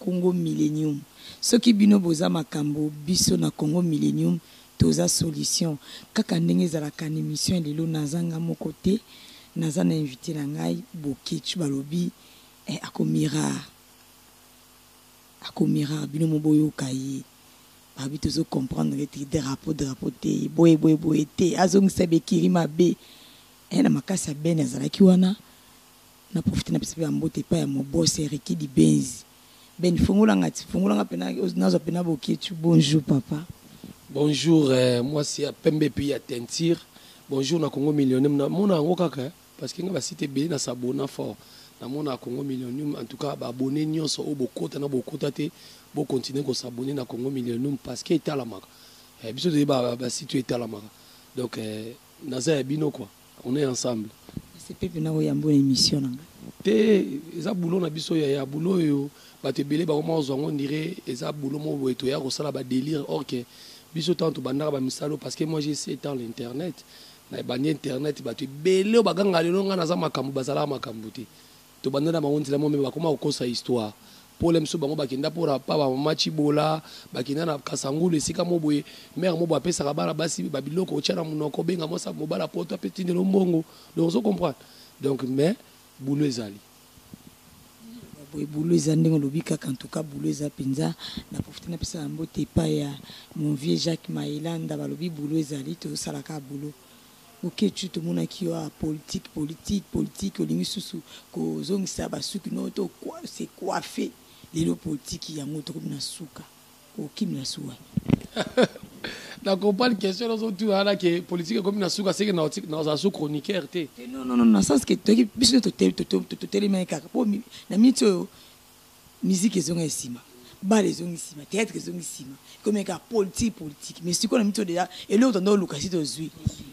Congo millenium soki bino boza makambo biso na congo millenium toza solution kaka ndenge ezalaka na emission ya lelo naza nga moko te naza na invite na ngai boketch balobi eh ako mirar ako mirar bino mo boyoka ye balobi tozo comprendre te drapeau drapeau te boye boye boye te azongisa bekiri mabe eh na makasi ya beni azalaki wana Na profite na pesa pe ba mbote epai ya mon boss Ericky Dibenzi Ben fongola nga ti fongola nga pena nazwa pena boketshu bonjour papa. Bonjour mwasi ya pembe puis ya teinture bonjour na congo millionum na mona yango kaka hein parce que nga ba site ebele na s'abonna fort na mona congo millionum en tout cas ba abonnes nionso oyo bokota na bokota te bo continuer ko s'abonner na congo millionum parce que etalamaka eh biso toyebi ba site oyo etalamaka donc eh Naza ya bino quoi on est ensemble. Ese pepe na oyambo na emission na nga. Te eza boulot na biso yaya boulot oyo bato ebele bango moko zwa yango ndire eza boulot moko boye toya kosala ba delire or que biso ntango tobandaka bamisala oyo parce que moi j'ai sept ans l'internet na ebandi internet bato ebele oyo bagangaka lelo ngai naza makambo bazalaka makambo te Tobanda na bango nzela moko mais bakoma kokosa histoire. Po lelo misusu bango bakenda po na pa ba mama Tshibola, bakenda na Kasangulu esika moko boye, mère moko boye apesaka bana basi ba biloko otia na munoko, obenga mwasi ya mobali ya poto ape tindela yo mbongo. Donc ozo comprendre? Donc mais boulot ezali. Boye boulot eza ndenge olobi kaka en tout cas boulot eza penza na profiter na pesa ba mbote epai ya mon vieux Jacques Mayelanda balobi boulot ezali tozosala kaka boulot. Boketshu tomonaki yo awa politique politique politique olingi susu kozongisa ba suki no to se coiffer lelo politique yango tokomi na suka okokimela suka wapi? Na comprendre question ozo tuna wana ke politique ekomi na suka seke na ozala su chroniqueur te. Non non non na sens ke toki biso to to to to to telema kaka po na minute oyo Musique ezonga ye sima. Bal ezongi sima. Theatre ezongi sima. Ekomi kaka politique politique. Mais sikoyo na miso deja eloko tanda oluka si tozui.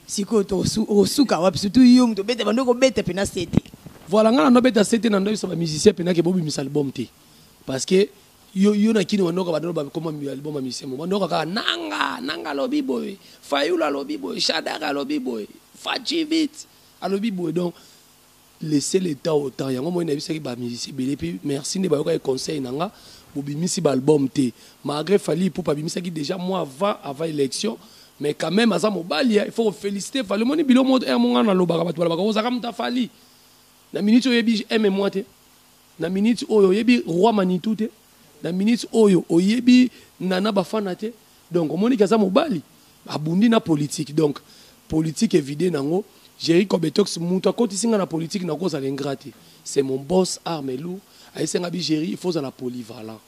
Sikoyo to osuka wapi surtout yo mutu obeta banda ko beta pena sete. Voilà nga nando beta sete nando yebisa ba musiciens pena ke bo bimisa album te. Parce que yo yo na kini wanoka banda ba koma album ya musicien mo banda kaka nanga nanga alobi boye fayulu alobi boye shadara alobi boye fatshi vite alobi boye donc laisser le temps au temps yango moi nayebisaki ba musicien ebele mpe merci nde bayokaki conseil na nga bobimisi ba album te malgre Fally Ipupa abimisaki dejà mois avant avant election mais quand même aza mobali il faut feliciter Fally omoni bilo moto heure monga nalobaka bato balobaka ozaka moto ya Fally na minute oyebi aime moi te Na minute oyo oyebi roi manitou te na minute oyo oyebi nana bafana te donc omoni ke aza mobali abundi na politique donc politique evide nango Jerry cobetox mutu akotisi nga na politique na kozala ingrat te c'est mon boss arme lourd ayebisi nga bi Jerry il faut ozala polyvalent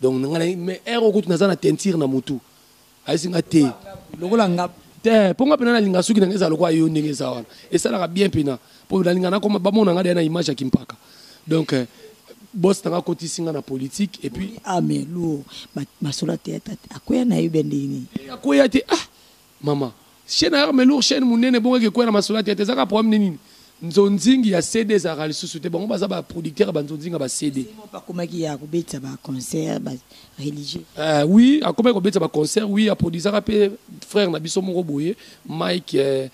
donc nga mais heure oyo kutu naza na teinture na mutu ayesi nga te lokola nga te mpo nga mpena nalinga suki na nga ezala lokola yo ndenge eza wana esalaka bien mpena mpo nalinga nakoma bamona nga deya na image ya kimpaka donc euh, boss na nga akotisi nga na politique et puis ame ah, luo masolo ateya tate akweya na yo bendini eh, akweya te ah mama Chaine ya arme lourd chaine munene ebongaki ekweya na masolo ya theatre eza kaka problème nde nini nzonzingi ya CD ezalaka lisusu te bango baza ba producteur ya ba nzonzingi ya ba CD Seulement bakomaki ya kobetisa ba concert ba religieux. Euh, oui akomaki kobetisa ba concert oui aproduisaka mpe frère na biso moko boye Mike euh,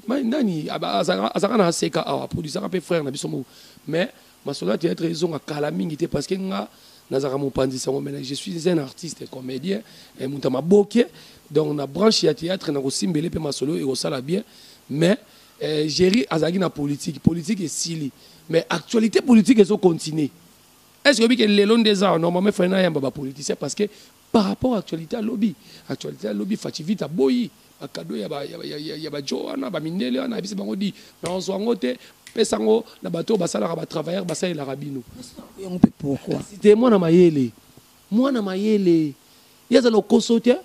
Mike nani Aba- azalaka azalaka na aseka awa aproduisaka mpe frère na biso moko mais Masolo ya theatre ezonga kala mingi te parce que nga nazalaka mopanzi sango mais je suis un artiste comedien eh, moto ya maboke donc na branche ya theatre nakosimbele mpe masolo ekosala bien mais eh, géri azalaki na politique politique esili mais actualité politique ezocontinue est ce que oyebi ke lelo nde eza normalement efali nayamba bapoliticien parce que Par rapport actualite ya lobi, actualite ya lobi Fatshi Vite aboyi ba cadeau ya ba ya ba djo wana ba mindele wana ayebisi bango dit nazwa yango te pesa yango na bato oyo basalaka ba travailleurs basalelaka bino. Yango mpe pourquoi? Kasi te mwana mayele mwana mayele ye aza lokoso te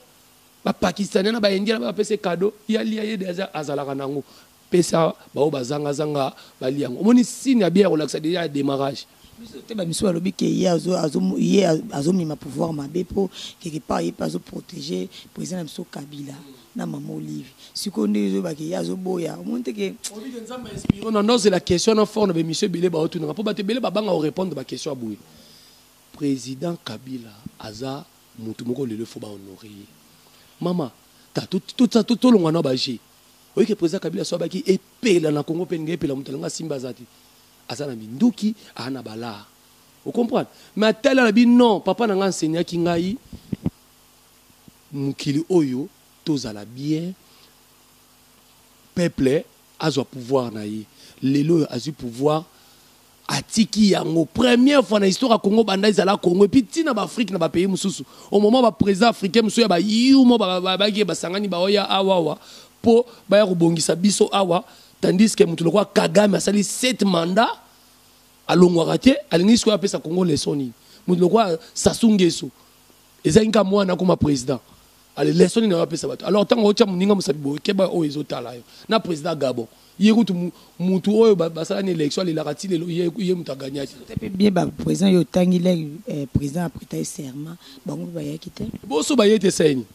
ba pakistanais na ba indiens na ba apesa ye cadeau ye alia ye dejà azalaka na yango. Pesa ba oyo ba zanga zanga ba lia yango. Omoni signe ya bien ya kolakisa dejà ya demarrage. Biso te ba misusu ba lobi ke ye azo azo ye azo mema pouvoir mabe po quelque part ye pe azo proteger president na biso Kabila na maman olive. Sikoyo nde ezo yeba ke ye azo boya. Omoni te ke. Olobi ke Nzambe a inspire yo na nazo zela question wana fort na ba emission ebele bao tuna nga po batu ebele ba banga ko repondre ba question ya boye. President Kabila aza mutu moko lelo il faut ba honorer ye. Maman ta to to longwa na ba jeux. Oyebi ke president Kabila soit baki epela na Congo pe linga epela moto alinga asimba aza te. Aza na minduki, aza na balaa. O comprendre? Mais atali alobi non, papa na nga enseignaki ngai mokili oyo tozala bien peuple azwa pouvoir na ye. Lelo oyo azwi pouvoir atiki yango première fois na histoire ya congo banda ezala congo epuis ntina baafrike na bapays mosusu au moment baprésident africain mosusu ya bayumo bayaki basangani baoya awawa mpo baya kobongisa biso awa tandis ke moto lokola kagame asali 7 mandat alongwaka te alingi sikoyo apesa congo leson nini moto lokola sasu ngeso Ezali nka mwana akoma president. Ale lesson nini apesa bato? Alors tango otia muninga musapi boye keba oyo ezo tala yo. Na president Gabon. Ye kutu mutu oyo basala na election alelaka ti lelo ye ye mutu a gagnaki. Eza pe bien ba president yo otangi lek president a preta ye serment bango pe bayaki te. Bo so baye te esali nini?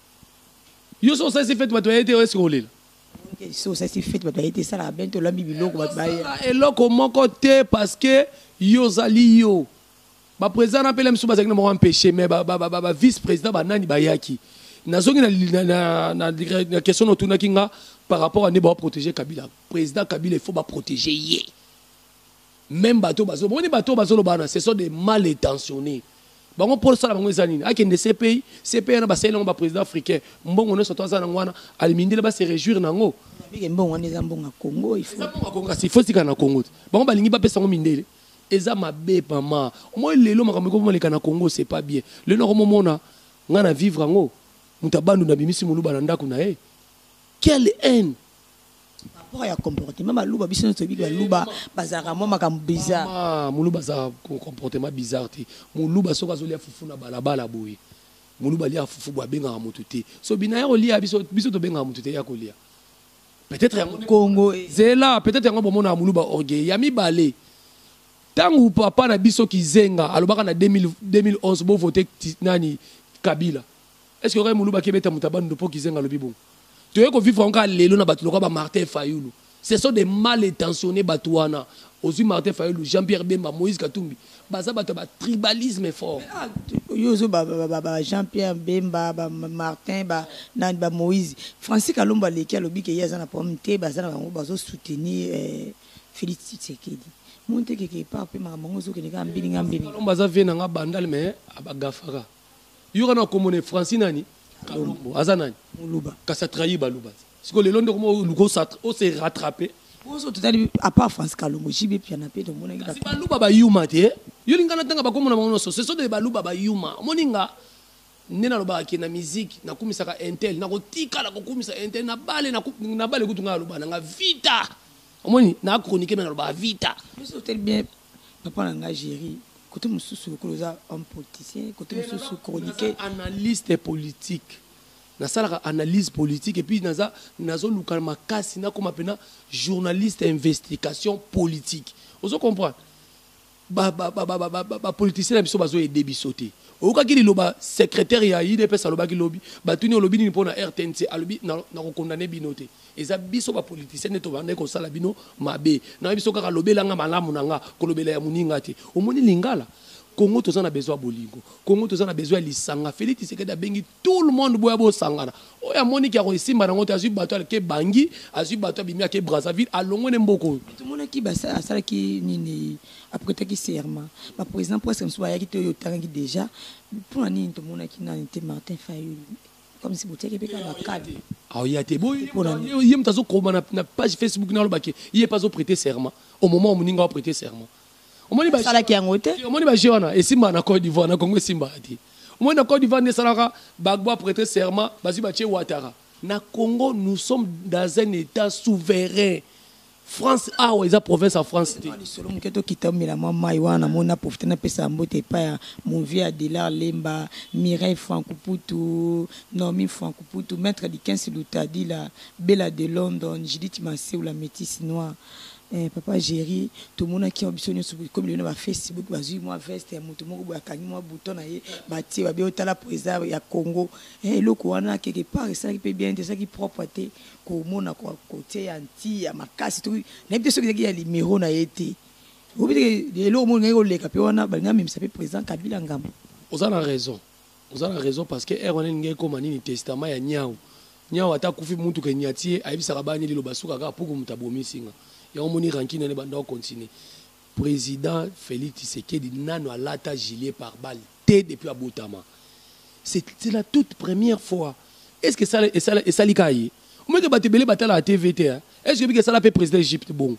Yo soki osalisi fete bato baye te est ce que olela? Soki osalisi fete bato baye te esalaka bien te olambi biloko bato baya. Eloko moko te parce que yo ozali yo. Ba president na pele misu bazaki na mwa empêcher mais ba ba ba vice president ba nani bayaki. Nazongi na na na, na, na question otunaki nga par rapport à ne ba protéger Kabila. President Kabila il faut ba protéger ye. Même bateau bazo, boni bateau bazo lobana, ce sont des mal intentionnés. bango mpo osala bango eza nini akende cpi cpi wana basali nango baprésident africain mbongo nyonso to aza nango wana alimindele base réjouir na yango mbongo wana eza mbongo ya congo eza mbongo ya congo kasi ifo etikala na congo te bango balingi bapesa yango mindele Eza mabe maman omoni lelo makambo ekoma leka na congo c'est pas bien lelo na komo mona nga na vivre yango moto ya bandundu abimisi moluba na ndaku na ye quelle haine rapport ya comportement baluba biso nyonso toyebi baluba bazalaka mwa makambo bizarre ah, muluba aza comportement bizarre te muluba soki azolia fufu na balabala boye muluba aliaka fufu boye abengaka motu te so bina ya kolia biso, biso tobengaka motu te ya kolia Peut-etre yango nde Congo e. Zela, peut-etre yango bomonaka muluba orgueil. Ya mibale, tangu papa na biso Kizenga alobaka na 2000, 2011 bo vote nani Kabila. Est-ce que okai muluba kebeta muta bandundu po Kizenga alobi bongo? Toye ko vivre yango kaka lelo na batu lokola ba Martin Fayulu. Ce sont des mal intentionnes batu wana. Ozui Martin Fayulu, Jean-Pierre Bemba, Moïse Katumbi. Baza bato ya ba tribalisme fort. Yo ozo ba ba jean pierre bemba ba martin ba nani ba moise francis kalombo aleki alobi ke ye aza na problème te baza na bango bazo soutenir eh, felix tshisekedi monte keke epa pe makambo yango ezokende kaka mbilinga mbilinga kalombo aza vie na nga bandal mais abagafaka yoka na komone francis nani kalombo aza nani muluba kasi atrahi baluba Siko lelo nde okoma oluka o se rattraper. Ozo totali à part France Kalongo JB Piana pe to mona ki ba. Baluba ba yuma te. Yo linga na tanga ba kombo na bango nyonso. Ce sont des baluba ba yuma. Omoni nga nde nalobaka ke na musique nakumisaka intel nakotikala kokumisa intel na bale na bale kutu ngai aloba na nga vita omoni na chronique me nalobaka vita bien papa na ngai géri kote mosusu lokola oza homme politicien kote mosusu chronique analyste politique Nasalaka analyse politique et puis naza nazo luka makasi nakoma pena journaliste ya investication politique ozo comprendre ba ba ba ba ba ba politiciens na biso bazo aider biso te oyokaki liloba secrétaire ya UDPS alobaki lobi batuni olobi nini pona RTNC alobi na, na ko condamner bino te eza biso ba politiciens nde tobandaki kosala bino mabe na biso kaka lobelanga malamu na nga kolobela ya muninga te omoni lingala Congo toza na besoin ya bolingo Congo toza na besoin ya lisanga Felix Tshisekedi abengi Tout le monde boya bosangana. Oyo amoni ki ako esimba nango te azui bato alke Bangui, azui bato abimi ake Brazzaville alongwe ne mboka oyo. Mais tomonaki ba asalaki nini a pretaki serment ba president presque misusu bayaki te oyo otangaki dejà pona nini tomonaki nani te Martin Fayulu comme si botiaki pe kaka ba cadre. Aoya te boye ye mutu azo koma na page Facebook naloba ke ye pe azo preter serment au moment moninga a preter serment. omoni ba salaki yango te omoni ba jeu wana esimba na Côte d'Ivoire na Congo esimba te omoni na Côte d'Ivoire nde salaka Gbagbo a prêter serment bazui batie Ouattara na Congo nous sommes dans un état souverain France awa eza province ya France te lisolo moke tokita omela mwa mai wana namoni na profite napesa mbote epai ya mon vieux Adelar Lemba Mireille Frankuputu Nomi Frankuputu maître Dickens Lutadila Bella de London Judith Maseula métisse noire Eh papa Jerry tomonaki awa biso nionso ekomi lelo na ba Facebook bazui mua veste ya moto moko boye akangi mua bouton na ye batie babe oyo tala po eza ya Congo eh eloko wana quelque part esalaki pe bien te esalaki propre te komona ko kotie ya nti ya makasi toki nayebi te soki ezalaki ya limero na ye te oyebi te ke eloko moko elingaki koleka pe wana balingi bamemisa pe president Kabila ngambo. Oza na raison Oza na raison parce que heure wana elingi ekoma nini testament ya niawu niawu ata akufi mutu ke niati ye ayebisaka ba nini liloba suka kaka puku mutu abomisi nga yango omoni rancune wana ebanda ko continue president Felix Tshisekedi nanu alata gilet par balle te depuis abotama c'est la toute première fois est ce que esala esala esali ka ye omeke batu ebele batalaka TV te hein est ce que bika esala pe president Egypte bongo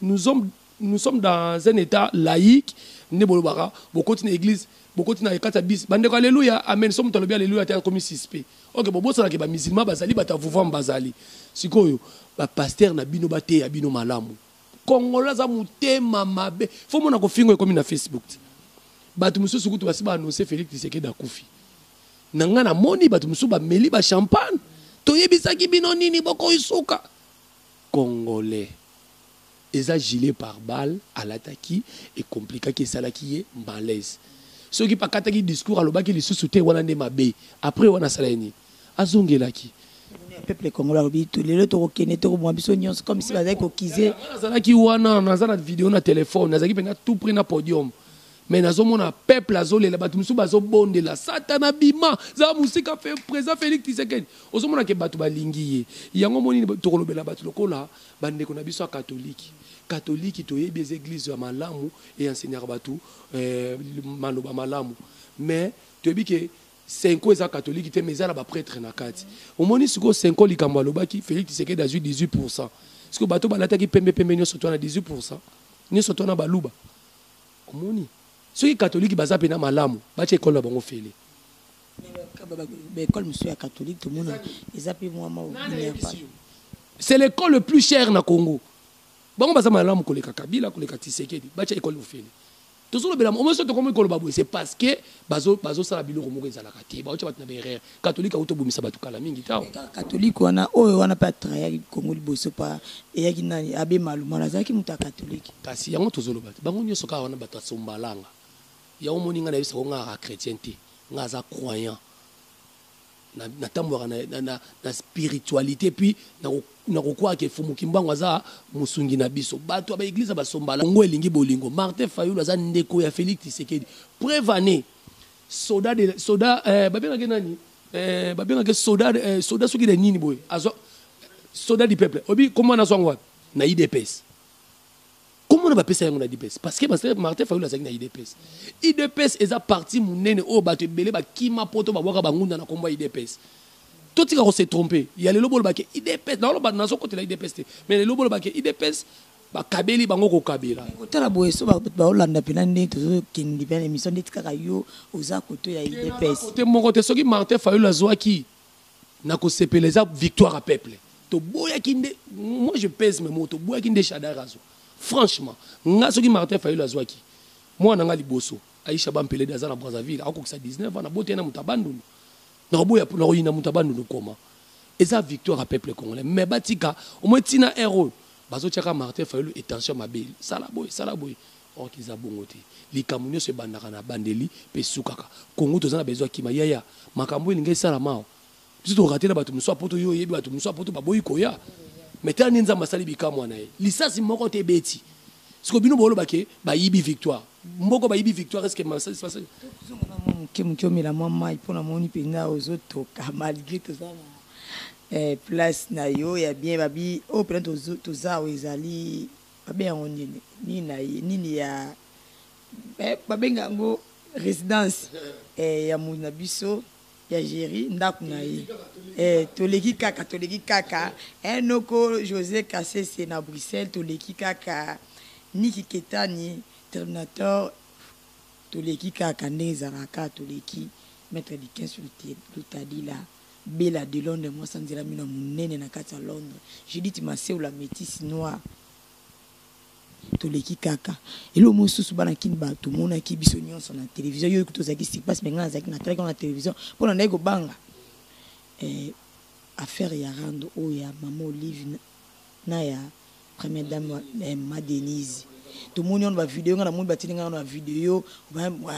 nous sommes nous sommes dans un état laïque nde bolobaka bokoti na église bokoti na ekati ya bisi bandeko aleluya amen so moto alobi aleluya te akomi suspect ok bobosanake bamisilma bazali bato ya vuvame bazali sikoyo bapaster na bino bateya bino malamu kongolo aza motema mabe fo mona kofingo ekomi na facebook te bato mosusu kutu basi baannonse félix tisekedi akufi na ngai namoni bato mosusu bameli bachampagne toyebisaki bino nini bokoisuka Congolais. Eza gilet par balle alataki e complikaki esalaki ye malaise. Soki pe akataki discours alobaki lisusu te wana nde mabe. Apres wana asala ye nini? Azongelaki. Peuple congolais alobi to lelo toko kende toko boma biso nionso comme si bazali ko kize. Nga nazalaki wana naza na video na telephone nazalaki penza tout pret na podium. Mais nazo mona peuple azo lela batu musu bazo bondela satana bima za musika president Felix Tshisekedi ozo mona ke batu balingi ye yango moni tokolobela batu lokola bandeko na biso ya katoliki katoliki toyebi eza eglise ya malamu e enseignaka batu eh, maloba malamu mais toyebi ke senko eza katoliki te mais eza na bapretre na kati omoni sikoyo senko likambo alobaki Felix Tshisekedi azwi 18 pourcent sikoyo bato balataki pembe pembe nyonso to na 18 pourcent nyonso to na baluba Omoni? Soki katoliki baza pena malamu, batia ekolo na bango ofele. Ba ekole mosusu ya katoliki tomona eza pe mwa mwa obineyapana. C'est l'école le plus cher na Congo. Bango baza malamu koleka Kabila, koleka Tshisekedi, batia ekole ofele. Tozolobela, omoso tokomi koloba boye, c'est parce que bazo, bazo sala biloko moko ezalaka te, baotia bato na ba erreur. Catholique auto bomisa batu kala mingi tao. Catholique wana oyo wana pe atrayaki Congo liboso pa eyaki nani Abe Malumana azalaki moto ya Catholique. Kasi yango tozoloba te bango nioso kaka wana batu ya sombalanga yango omoni nga nayebisa ko nga kaka chretien te nga aza croyant na natambolaka na, na, na, na spiritualite puis nakokwaka ke Fumu Kimbangu aza mosungi na biso bato ya baeglise ya basombala Congo elingi bolingo Martin Fayulu aza ndeko ya Felix Tshisekedi preuve annee Soda de soda eh, babengaka nani eh, babengaka soda eh, soda soki de nini boye azwa soda du peuple obi kombo wana azwa yango wapi na idps kombo wana bapesa yango na idps parce que martin fayulu azalaki na idps idps eza parti monene oyo bato ebele bakima poto babwaka bangunda na kombo ya idps totika kose trompe ya lelo bolobake idps nazokotela idps te mais lelo bolobake idps bakabeli bango kokabela kotala boye so bato baolanda mpena nde tozokende mpena émission ndeti kaka yo oza koto ya idepscote moko te soki martin fayulu azwaki na kosepela eza victoire ya peuple toboyaki nde moi je pèse mes mots toboyaki nde shadar azwa franchement nga soki martin fayulu azwaki mwana na nga liboso aisha bampelede aza na brazzaville akokisa 19 ans naboteli na moto abandulu Nakoboya po nakoyina moto ya Bandundu nkoma. Eza victoire ya peuple congolais mais batika au moins ti na heure oyo bazotiaka Martin Fayulu et tension mabe sala boye sala boye or que eza bongo te. Likambo nionso ebandaka na bandeli pe esukaka. Congo toza na besoin ya kima yaya makambo oyo elingi esalama awa biso to rate na batu mosusu ya poto yo oyebi batu mosusu ya poto baboyi koya mais tala ndenge Nzambe asali bikamwa na ye lisasi moko te ebeti Siko bino boloba ke bayibi victoire mboko bayibi victoire est ce que masasi masasi tokozonga na mwa moke moke omela mwa mai mpo namoni mpenza ozotoka malgre toza na eh, place na yo ya bien babi oyo oh, mpenza toza oyo ezali babe yango nini nini na ye nini ya eh, babenga yango résidence eh, ya moyi na biso ya Jerry ndaku na ye eh toleki kaka toleki kaka eh noko Jose kasese na Bruxelles toleki kaka Nicky ketani terminator toleki kaka ndenge ezalaka toleki maitre Dickens lutalila Bella de Londres mwasi ya nzela mino ya munene na kati ya Londres Judith masewu la metisse noire Toleki kaka eloko moko susu bana kin ba tomonaki biso nionso na television yo ekutu ozalaki sur place mais nga nazalaki natalaki yango na television mpo nandaki kobanga eh, affaire ya rando oyo ya mama olive na, na ya première dame eh, ma denise tomoni wana bavideo nga namoni batindi nga wana bavideo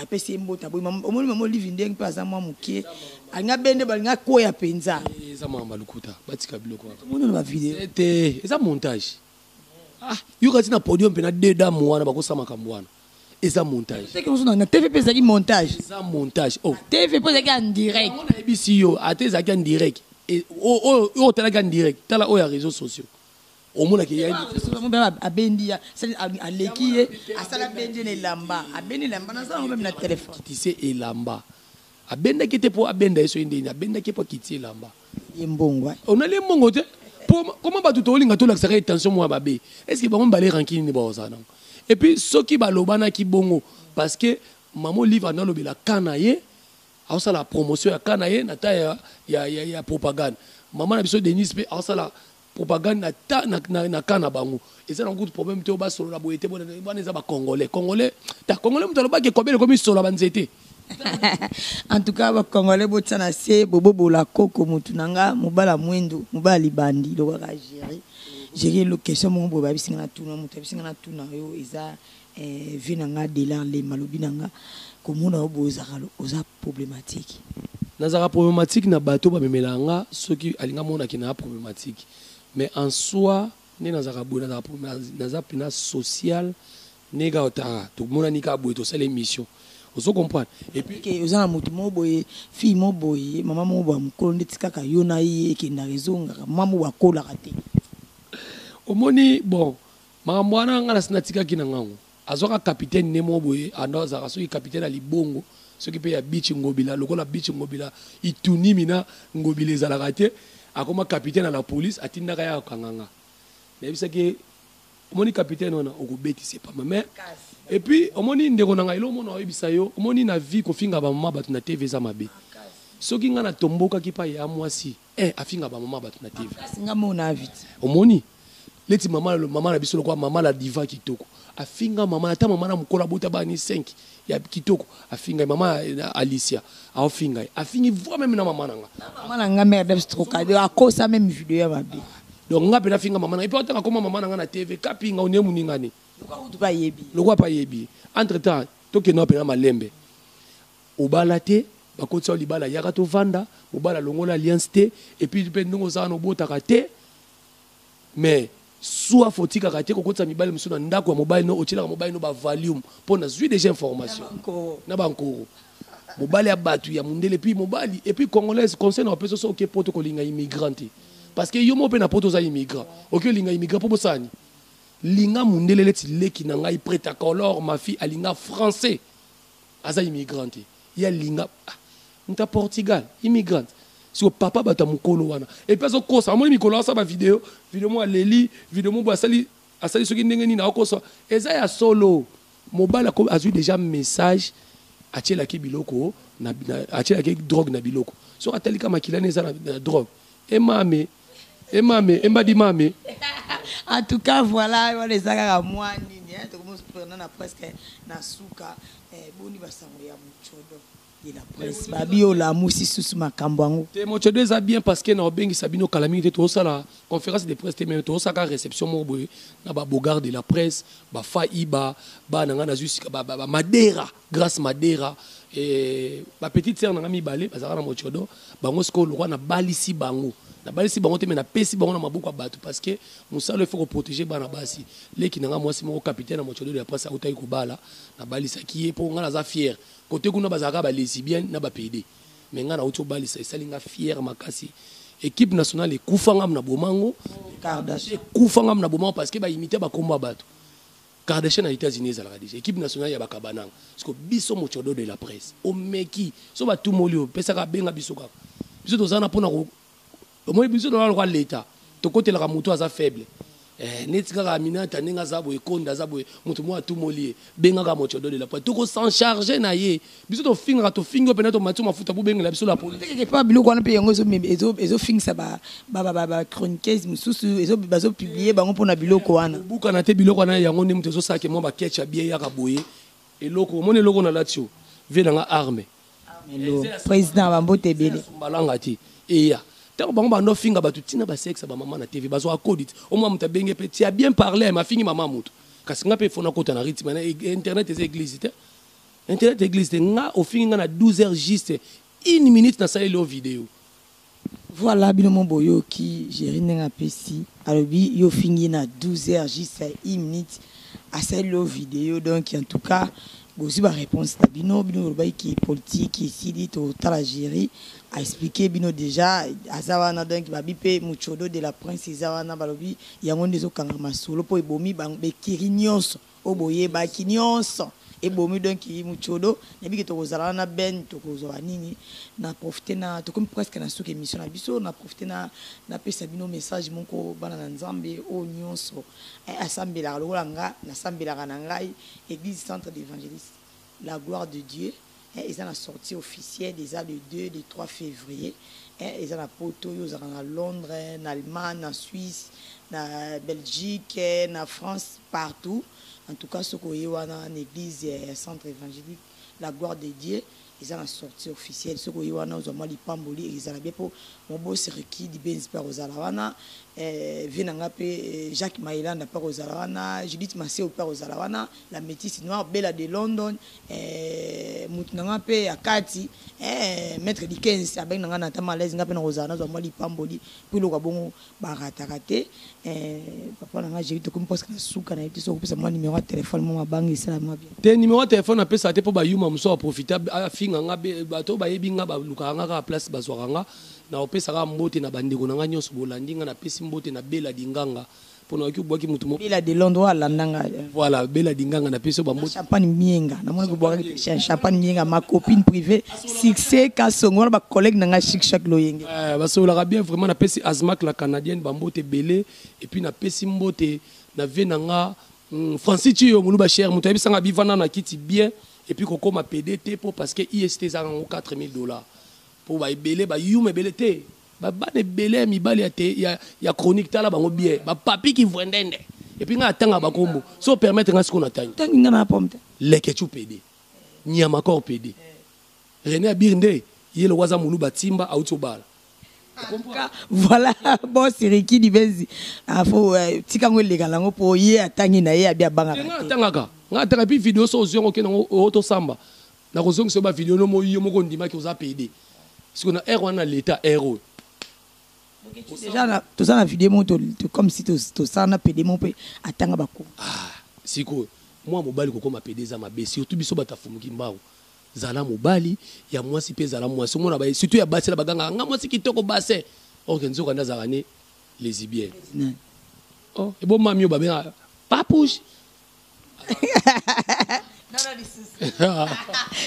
apesi ye mbote aboyi omoni mama olive ndenge mpe aza mwa moke alinga ah, bende balinga ah, koya mpenza eh, eza makambo ya lokuta batika biloko wana tomoni wana bavideo eza montage Ah, yoka ti na podium mpe na deux dames wana bakosa makambo wana eza montage na tv mpe ezalaki montage eza montage oh. tv mpo ezalaki en direct nayebisi yo ata ezalaki en direct e, oyo otalaki en direct tala oyo ya réseau sociaux omonaki abendi aleki ye asala bendi na elamba abendi elamba naza yango meme na telefone elamba Abendaki ye te mpo abenda ye soki ndeni, abendaki ye mpo akiti ye elamba. Ye mbongo eh. Onali ye mbongo te mpo koma bato tolinga tolakisaka ye tension moko ya babe eske bango mibale rankini nde bakozala nango et puis soki balobanaki bongo parce que mama olive ando alobela ka na ye aosala promotion ya ka na ye na temps ya, ya, ya, ya propagande mama na biso denise mpe aosala Propagande na ta na na camp na bango eza na kutu problème te ba solo na boye te wana eza ba congolais congolais ta congolais mutu alobaki ekobele komi solo ba nzete en tout cas bacongolais botia na se bobobola koko motu na nga mobala mwendo mobala libandi lokaka gere gere question moko boye babisi nga na tuna moto abisi nga na tuna yo eza eh, vie na nga delar lema lobi na nga komona yo boye ozaka oza problematiki. Nazalaka problematiki na bato ba memelaka nga soki alingi amona ke naza problematiki mais en soi nde nazalaka boye nazalaka problematiki naza pena social nde kaka otala tomonani kaka boye tosala emission ozo comprendre et puis que oza na moto moko boye fille moko boye mama moko boye mokolo ndeti kaka yo na ye ekendaka ezongaka mama moko akolaka te omoni bon makambo wana nga nasi natikaki na ngango Azwaka capitaine ne moko boye ando azalaka soki capitaine ya libongo soki pe ya beach ngobila lokola beach ngobila itunimi na ngobila ezalaka te akoma capitaine ya la police atindaka ya kanganga nayebisaki ye omoni capitaine wana okobetisa epama mais et puis omoni ndeko na ngai elomona oyebisa yo omoni na vie kofinga bamama bato na tv eza mabe soki ngai natombokaki pa ya mwasi Eh afinga ba maman batu na TV. Kasi nga mo na invite. Omoni? Leti maman le maman na biso le kwa maman la diva kitoko. Afinga maman ata maman na mukolo abota ba ni 5 ya kitoko. Afinga maman Alicia. Ao finga. Afingi voix même na maman na nga. Maman na nga mère d'Eps troka. De akosa même vidéo ya mabe. Donc nga pe na finga maman na. Et puis otanga koma maman na nga na TV kapinga onie muninga ni. Lokwa kutu pa yebi. Lokwa pa yebi. Entre temps tokende wapi na malembe. Obala te, bakotisa yo libala yaka tovanda, mobali alongola alliance te et puis pe ndenge oza wana obotaka te mais soif otikaka te kokotisa mibali mosusu na ndako ya mobali no otyelaka mobali no ba valium mpo nazwi deja information na bankoro mobali ya bato ya mondele puis mobali et puis congolaise conseil na opesa so oke poto kolinga immigrant te parce que yo moko mpe na poto oza immigrant oke olinga immigrant mpo bosalani linga mondele leti leki na ngai preta color mafi alinga français Aza immigrant te ye alinga ah mutu ya Portugal immigrant siko papa batu ya mukolo wana et puis azo kosa amoni mikolo asa ba video video mo aleli video mo asali asali soki ndenge nini akosa eza ya solo mobali ako azui deja message atielaki biloko na, na atielaki drogue na biloko soki atali ka makila ne eza na, na drogue emame e mame e mbadi mame en tout cas voilà wana eza kaka mwa nini eh, tokomosuprena na presque na suka eh, boni basango ya mocodo ye na presse babi olamusi susu makambo yango te mocodo eza bien parce que na obengisa bino kala mingi te tozosala conférence de presse te meme tozosalaka réception moko boye na babogard de la presse bafa iba bana ngai nazwi sika bamadera ba, ba Grace Madera eh, ba petite sœur nanga mibale bazalaka na mochodo bango sikoyo lokwa nabalisi bango nabalisi bango te me napesi bango na maboko ya bato parce que mosala efo koprotege bana basi leki nanga mwasi moko capitaine ya mochodo ya pasi autaki kobala nabalisaki ye mpo ngai naza fiere kote kuna bazalaka balesibienne na bapede me ngai nauti obalisa esali ngai fiere makasi équipe nationale ekufa ngam na bomango ekufa ngam na bomango parce que baimite bakombo ya bato Kardashian na Etats Unis ezalaka dejà equipe nationale ya ba kabananga sikoyo biso mocodo de la presse omeki so batumoli yo pesaka benga biso kaka biso toza na pona ko omoni biso toza lokola leta tokotelaka moto aza faible eh, neti kaka aminata ndenge aza boye konda aza boye moto moko atumoli ye bengaka mocodo de la presse toko s'en charge na ye biso tofingaka tofingi yo mpena tomati mafuta bobengela biso la policeeke mpa biloko wana mpe yango ezofingisa bachroniqueuse mosusu bazopublie bango mpona biloko wana obukana te biloko wana yango nde moto ezosalake mwa baketch ya bie yaka boye eloko omoni eloko na lati yo vie na nga arme président bambote ebele balanga te eya ntango bango banda ofinga bato ntina basexe bamama na tv bazwaka kodit omwa moto abenge mpe tia bien parle mafingi mama moto kasi ngai mpe fona kota na ritme na e, e, internet eza eglise te Internet eglise te nga ofingi nga na 12 heures juste une minute na saleli yo video. Voilà bino mo boyoki Jerry ndenge apesi alobi yo ofingi ye na 12 heures juste une minute asaleli yo video donc en tout cas bozwi ba réponse na bino bino bolobaki ki politique esili totala Jerry a expliquer bino déjà aza wana donc babi mpe mucodo de la prince eza wana balobi yango nde ezokanga masolo mpo ebomi bango ba ecurie nyonso Oyo boyebaki nionso ebomi donc mutshodo nayebi ke tokozala wana na Ben tokozwa ba nini na profiter na tokomi presque na suka emission na biso na profiter na napesa bino message moko bana na nzambe oyo nionso asambelaka lokola nga nasambelaka na ngai eglise centre d'evangeliste La gloire de Dieu eh, eza na sortie officielle eza le 2 le 3 fevrier eh, eza na poto yo ozalaka na Londres na Allemagne na Suisse na Belgique eh, na France partout en tout cas soki oye wana na église eh, ya centre évangélique la gloire de Dieu eza na sortie officielle soki oye wana ozwa mwa lipamboli ezala bien mpo mobosi riki dibenzi mpe akozala wana eh, vie na ngai mpe eh, jacques maelanda mpe akozala wana judith maseo mpe akozala wana La metisse noire bella de London eh, mutu na nga pe ya kati eh, maître Dickens abengi na nga na ta malaise nga pe na kozala nazwa mwa lipamboli po eloko ya bongo barataka te eh, papa na nga Jerry tokomi presque na suka na yebi te soki okopesa mwa numero ya telefone mwa mabangi esala mwa bien te numero ya telefone apesaka te po bayuma mosusu aprofite afinga nga bato bayebi nga balukaka nga kaka place bazwaka nga na opesaka mbote na bandeko na nga nyonso bolandi nga napesi mbote na bela dinganga Pona oyoki obwaki mutu moko. Bella de Londres oyo alanda nga. Voilà Bella Dinganga na pesi yo ba mbote. Champagne Mienga na moni kobwakaki pe Champagne Mienga ma copine privee Succès Kasongo wana ba collègues na nga Chic Chac Loyenge. Eh ba sololaka bien vraiment na pesi Azmak la Canadienne ba mbote ebele et puis na pesi mbote na vieux na nga Francis Tshiyo muluba cher mutu ayebisa nga bi vanda na kiti bien et puis ko koma pede te po parce que IST eza na ngo 4000 dollars po ba ebele ba yuma ebele te. Ba bana ebele ya mibali ya te ya ya chronique tala bango bien ba papi ki vwendende et puis nga atanga ba kombo so permettre nga siko na tangi tangi nga na pomme te leketchu pede nyama corps pede René abir nde ye lokwa za muluba timba auti obala voilà bon siriki dibenzi ah, faut euh, tika ngo eleka nango po ye atangi na ye abi abanga nga atangaka nga atanga puis vidéo so ozwi yango okende yango oyo tosamba Nakozongisa yo ba video no moyi yo moko ondimaki oza pede siko na heure wana na leta heure oyo toza na video moko comme si tosala na pede moko mpe atanga bakoma ah, sikoyo mwa mobali kokoma pede eza mabe surtout biso bato afumuki mbangu zala mobali ya mwasi mpe zala mwasi omona baye surtout ya basi na bagangaka nga mwasi kitoko base orke nzoka nde azalaka ne lesibienne oh, ebomami oyo babengaka papouche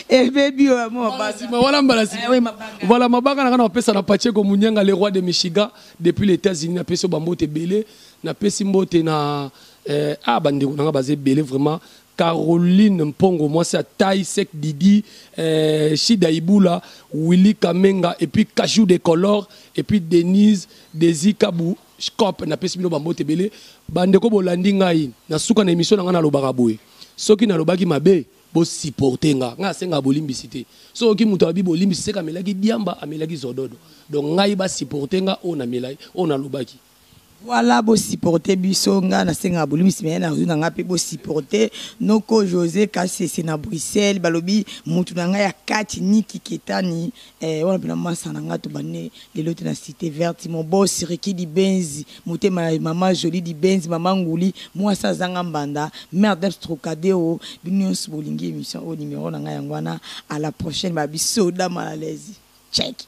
ebebi oyo mobasima wana mbala sima voilà mabanga nanga na kopesa na pacheko munyanga le roi de michigan depuis les états-unis napesi yo bambote ebele napesi mbote na eh, ah bandeko nanga baza ebele vraiment caroline mpongo mwasi ya tai sek didi eh, shida ibula willy kamenga epuis kajou de color epuis denise desi kabu Shkop, napesi bino bambote ebele bandeko bolandi ngai na suka na emission na ngai nalobaka boye soki nalobaki mabe bosiporte nga ngai asengaka bolimbisi te soki moto alobi bolimbisi seka amelaki diamba amelaki zododo donc ngai basiporte nga oyo namelai oyo nalobaki voilà bosiporte biso ngai nasengaka bolimbisi meye nazwi na ngai mpe bosiporte noko josé kasese na bruxelles balobi motu na ngai ya kati niki ketani Eh wana pena masa na nga tobandi lelo te na cite verte mon boss Ricky Dibenzi motema ya mama Jolie Dibenzi mama Nguli mwasi azanga mbanda mère d'Abs Trocadero bino nyonso bolingi emission oyo numero na nga yango wana à la prochaine ba bisoda mal à l'aise check